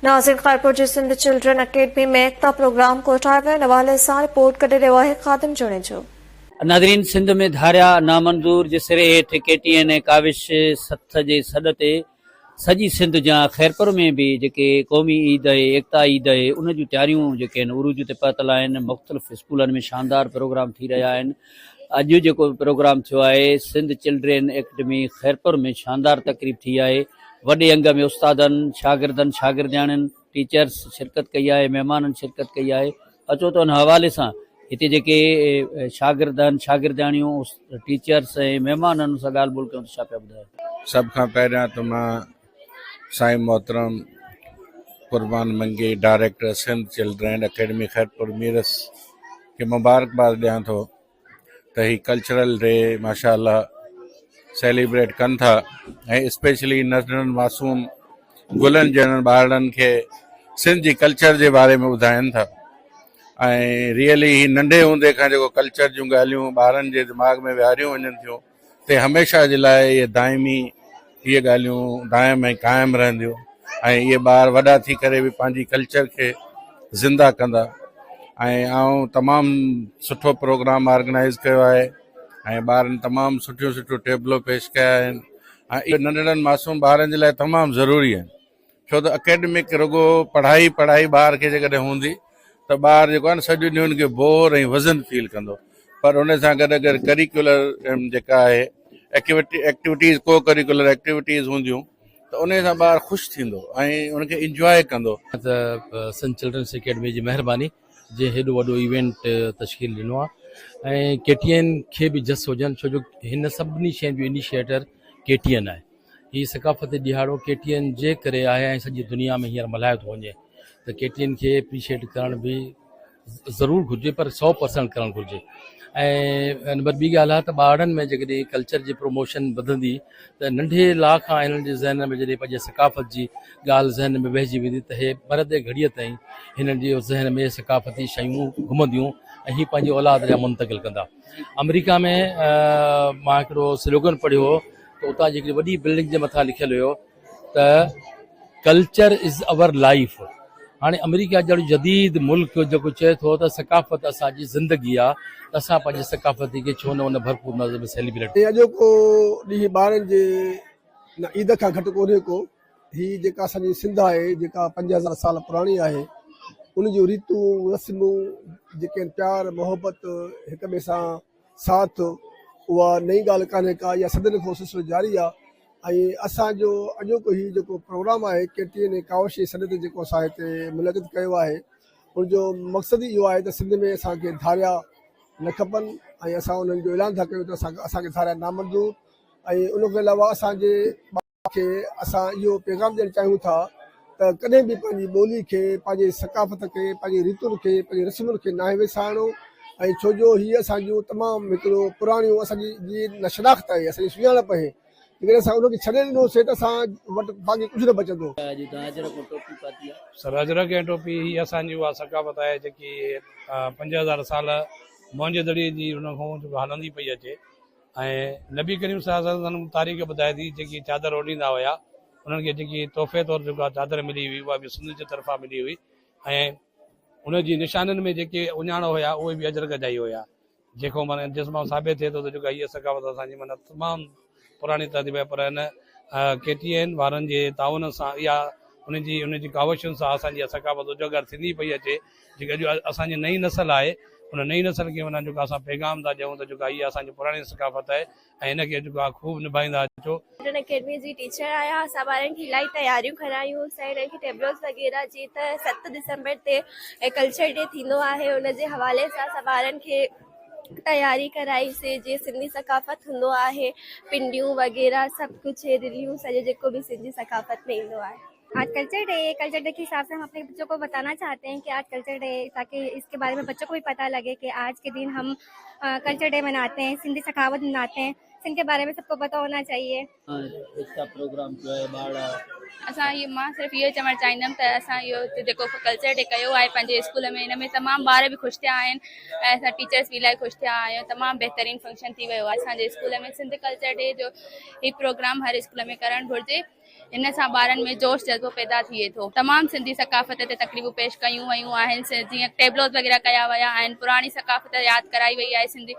ناظرين خيرپور جي Sindh children academy ۾ Ekta program ڪوٺايو ويو ان حوالي سان رپورٽ ڪڍي رهيو آهي خادم جوڻيجو. ناظرين سنڌ ۾ ڌاريا نامنظور جي سري هيٺ ڪي ٽي اين اي ڪاوش سٿ جي سڏ تي سڄي سنڌ جيان خيرپور ۾ به جيڪي قومي عيد اهي ايڪتا عيد اهي ان جون تياريون جيڪي آهن عروج تي پهتل آهن مختلف اسڪولن ۾ شاندار پروگرام ٿي رهيا آهن اڄ جيڪو به پروگرام ٿيو آهي سنڌ چلڊرين اڪيڊمي خيرپور ۾ شاندار تقريب ٿي آهي وڏي انگ ۾ استادن شاگردن شاگردياڻين ٽيچرس شرڪت ڪئي آهي مهمانن شرڪت ڪئي آهي اچو ته ان حوالي سان هتي جيڪي شاگردن شاگردياڻيون ٽيچرس ۽ مهمانن سان ڳالهه ٻولهه ڪيون ته ڇا پيا ٻڌاين سڀ کان پهريان ته مان سائين محترم Qurban Mangi director Sindh children academy Khairpur Mirs کي مبارڪباد ڏيان ٿو ته هي ڪلچرل ڊي ماشاءالله سيليبريٽ ڪن ٿا ۽ اسپيشلي ننڍڙن معصوم گلن جهڙن ٻارڙن کي سنڌ جي ڪلچر جي باري ۾ ٻڌائن ٿا ۽ ريئلي هي ننڍي هوندي کان جيڪو ڪلچر جون ڳالهيون ٻارن جي دماغ ۾ ويهاريون وڃن ٿيون تي هميشه جي لاء اهي دائمي اهي ڳالهيون دائم ۽ قائم رهنديون ۽ اهي ٻار وڏا ٿي ڪري به پنهنجي ڪلچر کي زنده ڪندا ۽ آئون تمام سٺو پروگرام آرگنائز ڪيو آهي ۽ ٻارن تمام سٺيون سٺيون ٽيبلو پيش ڪيا آهن ۽ ننڍڙن معصوم ٻارن جي لاء تمام ضروري آهن ڇو ته اڪيڊمڪ رڳو پڙهائي پڙهائي ٻار کي جيڪڏهن هوندي ته ٻار جيڪو آهي نه سڄو ڏينهن ان کي بور ۽ وزن فيل ڪندو پر ان سان گڏ اگر ڪريڪولر جيڪا آهي ايڪٽيوٽيز ڪو ڪريڪولر ايڪٽيوٽيز هونديون ته ان سان ٻار خوش ٿيندو ۽ ان کي انجواء ڪندو ته سنڌ چلڊرنس اڪيڊمي جي مهرباني جنهن هيڏو وڏو ايونٽ تشڪيل ڏنو آهي ۽ ڪي ٽي اين کي به جس هجن ڇو جو هن سڀني شين جو انيشيٽر ڪي ٽي اين آهي هي ثقافتي ڏهاڙو ڪي ٽي اين جي ڪري آهي ۽ سڄي دنيا ۾ هينئر ملهايو ٿو وڃي ته ڪي ٽي اين کي اپريشيئيٽ ڪرڻ به ضرور گهرجي پر سؤ پرسنٽ ڪرڻ گهرجي ۽ نمبر ٻي ڳالهه آهي ته ٻارڙن ۾ جيڪڏهن ڪلچر جي پروموشن وڌندي ته ننڍي لا کان هنن جي ذهنن ۾ جڏهن پنهنجي ثقافت جي ڳالهه ذهن ۾ ويهجي ويندي ته هي مرندي گهڙيء تائين هنن جي ذهن ۾ ثقافتي شيون گهمنديون ۽ هي پنهنجي اولاد ڏانهن منتقل ڪندا آمريڪا ۾ مان هڪڙو سلوگن پڙهيو هو ته اتان جي هڪڙي وڏي بلڊنگ جي مٿان لکيل هيو ته ڪلچر از آور لائيف هاڻي آمريڪا جهڙو جديد ملڪ جيڪو چئي ٿو ته ثقافت اسان جي زندگي آ ته اسان پنهنجي ثقافتي کي ڇو نه ان ڀرپور نظر ۾ سيليبريٽ ۽ اڄوڪو ڏينهن ٻارن جي نه عيد کان گهٽ ڪونهي ڪو هي جيڪا اسان جي سنڌ آهي جيڪا پنج هزار سال پراڻي آهي ان جون ريتون رسمون جيڪي آهن پيار محبت هڪ ٻئي سان ساٿ اها نئين ڳالهه ڪانهي ڪا اها صدين کان سلسلو جاري آهي ۽ اسان جو اڄوڪو هي جيڪو پروگرام آهي ڪي ٽي اين اي ڪاوش جي سڏ تي جيڪو اسان هتي منعقد ڪيو آهي ان جو مقصد ئي اهو آهي ته سنڌ ۾ اسان کي ڌاريا نه کپن ۽ اسان انهن جو اعلان ٿا ڪيون ته اسان کي ڌاريا نامنظور ۽ ان کان علاوه اسان جي کي اسان اهو پيغام ڏيڻ چاهيون ٿا ته ڪڏهن به پنهنجي ٻولي کي، پنهنجي ثقافت کي، پنهنجي ريتن کي، پنهنجي رسمن کي ناهي وسارڻو ۽ ڇو جو هي اسان جون تمام هڪڙو پراڻيون اسان جي جي شناخت آهي، اسان جي سڃاڻپ آهي، جيڪڏهن اسان ان کي ڇڏي ڏنوسين ته اسان وٽ باقي ڪجهه نه بچندو. سراجرڪ ۽ ٽوپي هي اسان جي اها ثقافت آهي جيڪي پنج هزار سال موئن جو دڙي جي ان کان هلندي پئي اچي ۽ نبي ڪريم صلي الله عليه وسلم سندن تاريخ ٻڌائي ٿي جيڪي چادر اوڍيندا هيا انهن کي جيڪي تحفي طور جيڪا چادر ملي هئي اها به سنڌ جي طرفان ملي هئي ۽ ان جي نشانين ۾ جيڪي اهڃاڻ هيا اهي به اجرڪ جا ئي هيا جيڪو معنيٰ جس مان ثابت ٿئي ٿو ته جيڪا هيء ثقافت اسان جي معنيٰ تمام پراڻي تهذيب آهي پر هن ڪي ٽي اين وارن جي تعاون سان اها ان جي ان جي ڪاوشن سان اسان جي اها ثقافت اجاگر ٿيندي پئي اچي جيڪي اڄ اسان جي نئين نسل آهي ان نئين نسل کي معنيٰ جيڪو اسان پيغام ٿا ڏيون ته جيڪو اها اسان جي پراڻي ثقافت آهي ۽ ان کي جيڪو آهي خوب نڀائيندا اچو. ٽن اڪيڊمي جي ٽيچر آهيان اسان ٻارن کي الاهي تياريون ڪرايون اسان انهن کي ٽيبلوز وغيره جي ته ست ڊسمبر تي ڪلچر ڊي ٿيندو آهي ان جي حوالي سان اسان ٻارن کي تياري ڪرائي سي جي سنڌي ثقافت هوندو آهي پنڊيون وغيره سڀ ڪجهه رليون سڄو جيڪو به سنڌي ثقافت ۾ ايندو آهي. آج ڪلچر ڊي ڪلچر ڊي کي حساب سان اپني بچو کو بتانا چاھتي ھين ڪي آج ڪلچر ڊي تاڪي اس ڪي باري مي بچو کو بي پتا لگي ڪي آج ڪي دين ھم ڪلچر ڊي مناتے ھين سندي سخاوت مناتے ھين سنڌ ڪي باري مي سب کو پتا ھونا چاھيي. اسان اھي مان صرف اھو چوڻ چاھيندم ته اسان اھو جيڪو ڪلچر ڊي ڪيو آھي پنھنجي اسڪول ۾ ان ۾ تمام ٻار به خوش ٿيا آھن ۽ اسان ٽيچرس به الاھي خوش ٿيا آھيون تمام بھترين فنڪشن ٿي ويو آھي اسان جي اسڪول ۾ سنڌ ڪلچر ڊي جو ھي پروگرام ھر اسڪول ۾ ڪرڻ گھرجي. ان سان ٻارن ۾ جوش جذبو پيدا ٿئي ٿو. تمام سنڌي ثقافت تي تقريبون پيش ڪيون ويون آهن جيئن ٽيبلوز وغيره ڪيا ويا آهن پراڻي ثقافت ياد ڪرائي وئي آهي سنڌي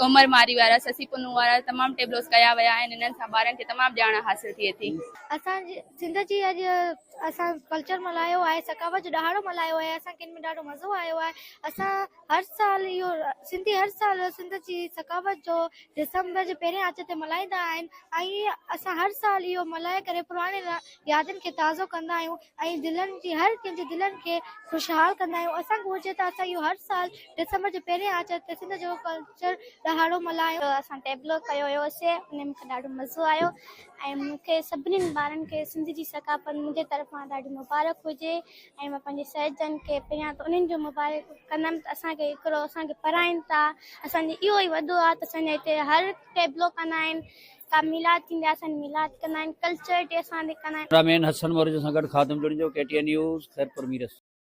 عمر ماري وارا سسي پنهون وارا تمام ٽيبلوز ڪيا ويا آهن انهن سان ٻارن کي تمام ڄاڻ حاصل ٿئي ٿي. اسان جي سنڌ جي اڄ اسان ڪلچر ملهايو آهي ثقافت جو ڏهاڙو ملهايو آهي اسان کي ان ۾ ڏاڍو مزو آيو آهي اسان هر سال اهو سنڌي هر سال سنڌ جي ثقافت جو ڊسمبر جي پهرين آچر تي ملهائيندا آهن ۽ اسان هر سال اهو ملهائي ڪري پراڻين يادن کي تازو ڪندا آهيون ۽ دلين جي هر ڪنهن جي دلين کي خوشحال ڪندا آهيون اسان کي گهرجي ته اسان اهو هر سال ڊسمبر جي پهرين آچر تي سنڌ جو ڪلچر ڏهاڙو ملهايون. اسان ٽيبلو ڪيو هيوسي ان ۾ مونکي ڏاڍو مزو آيو ۽ مونکي سڀني ٻارن کي سنڌ جي ثقافت منهنجي طرفان ڏاڍي مبارڪ هجي ۽ مان پنهنجي سهيلجن کي پهريان ته انهن جو مبارڪ ڪندم ته اسان کي هڪڙو اسان کي پرائين ٿا اسان جي اهو ئي وڏو آ ته اسان جي هتي هر ٽيبلو ڪندا آهن ڪا ميلاد ٿيندي آ اسان جي ميلاد ڪندا آهن ڪلچر ڊي اسان جي ڪندا آهن. ڪئميرا مين حسن مورجو سان گڏ Khadim Junejo, K T N news, Khairpur Mirs.